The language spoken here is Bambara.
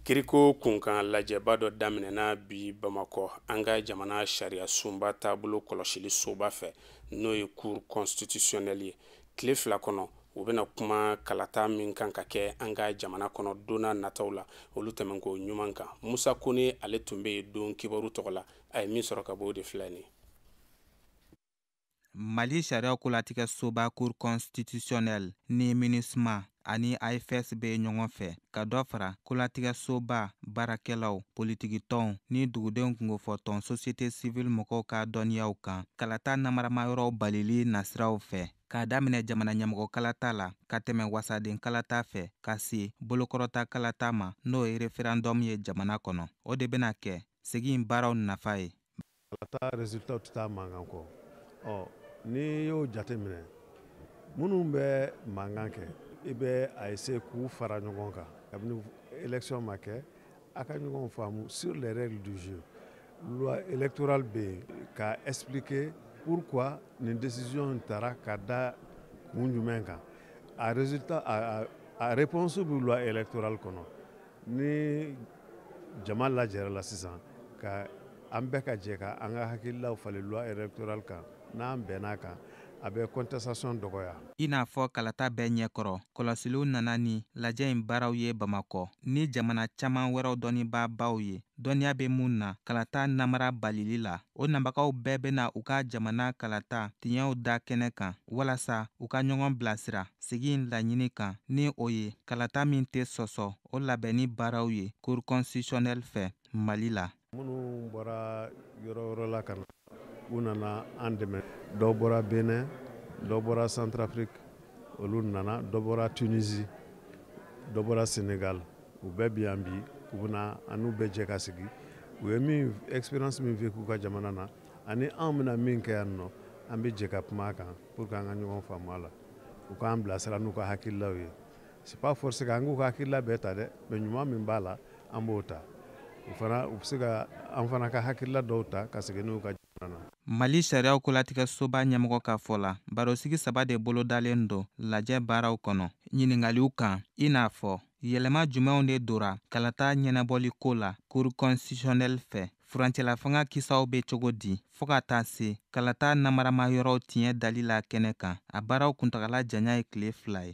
kiriko kunkan lajɛba dɔ daminɛna bi bamakɔ an ka jamana sariya sunba taabolo kɔlɔsili soba fɛ n'o ye cour constitutionnelle ye tile fila kɔnɔ u bɛna kuma kalata min kan ka kɛ an ka jamana kɔnɔ don nataw la olu tɛmɛnko ɲuman kan musa kone ale tun bɛ yen don kibaru tɔgɔ la a ye min sɔrɔ ka bɔ o de filɛ nin mali sariya kolatigɛ soba cour constitutionnelle ni minusma ani ifes bɛ ɲɔgɔn fɛ ka dɔ fara kolatigɛ soba baarakɛlaw politikitɔnw ni dugudenw kunkofɔtɔn société civile mɔgɔw ka dɔnniyaw kan kalata namaramayɔrɔw balili nasiraw fɛ k'a daminɛ jamana ɲɛmɔgɔ kalata la ka tɛmɛ wasaden kalata fɛ ka se bolokɔrɔta kalata ma n'o ye referandɔmu ye jamana kɔnɔ o de bɛna kɛ sigi in baaraw nafa ye Kalata résultat tɛ taa mankan kɔ ɔ n'i y'o jate minɛ minnu bɛ mankan kɛ i bɛ a essayer k'u fara ɲɔgɔn kan kabini élection ma kɛ a ka ɲɔgɔn faamu sur les règles du jeu loi électorale bɛ yen ka expliquer pourquoi nin décision in tara ka da kun jumɛn kan a résultat a a a réponse bɛ loi électorale kɔnɔ ni jama lajɛrɛla sisan ka an bɛɛ ka jɛ ka an ka hakililaw falen loi électorale kan n'an bɛnn'a kan a bɛ contestation dɔgɔya i n'a fɔ kalata bɛɛ ɲɛkɔrɔ kɔlɔsiliw nana ni lajɛ in baaraw ye bamakɔ ni jamana caman wɛrɛw dɔnnibaabaw ye dɔnniya bɛ minnu na kalata namara balili la O nabagaw bɛɛ bɛna u ka jamana kalata tiɲɛw da kɛnɛ kan walasa u ka ɲɔgɔn bilasira sigi in laɲini kan ni o ye kalata min tɛ sɔsɔ o labɛnni baaraw ye cour constitutionnelle fɛ Mali la. Minnu bɔra yɔrɔ yɔrɔ la ka na, u nana an dɛmɛ. Dɔ bɔra Bénin, dɔ bɔra Centrafrique, olu nana, dɔ bɔra Tunisie, dɔ bɔra Sénégal. u bɛɛ bi yan bi u bɛna an n'u bɛɛ jɛ ka sigi u ye min expérience min vécu u ka jamana na ani anw bɛna min kɛ yan nɔ an bɛ jɛ ka kuma a kan pour que an ka ɲɔgɔn faamu a la u k'an bilasira n'u ka hakililaw ye c'est pas forcé k'an k'u ka hakilila bɛɛ ta dɛ mais ɲuman min b'a la an b'o ta u fana u bɛ se ka an fana ka hakilila dɔw ta ka segin n'u ka jamana na Mali sariyaw kolatigɛsoba ɲɛmɔgɔ ka fɔ la, barosigi saba de bolodalen don lajɛ baaraw kɔnɔ ɲiningaliw kan, i n'a fɔ yɛlɛma jumɛnw de dora kalata ɲɛnabɔli ko la cour constitutionnelle fɛ furancɛlafanga kisaw bɛ cogo di fɔɔ ka taa se kalata namaramayɔrɔw tiɲɛ dali la kɛnɛ kan a baaraw kuntagala janya ye tile fila ye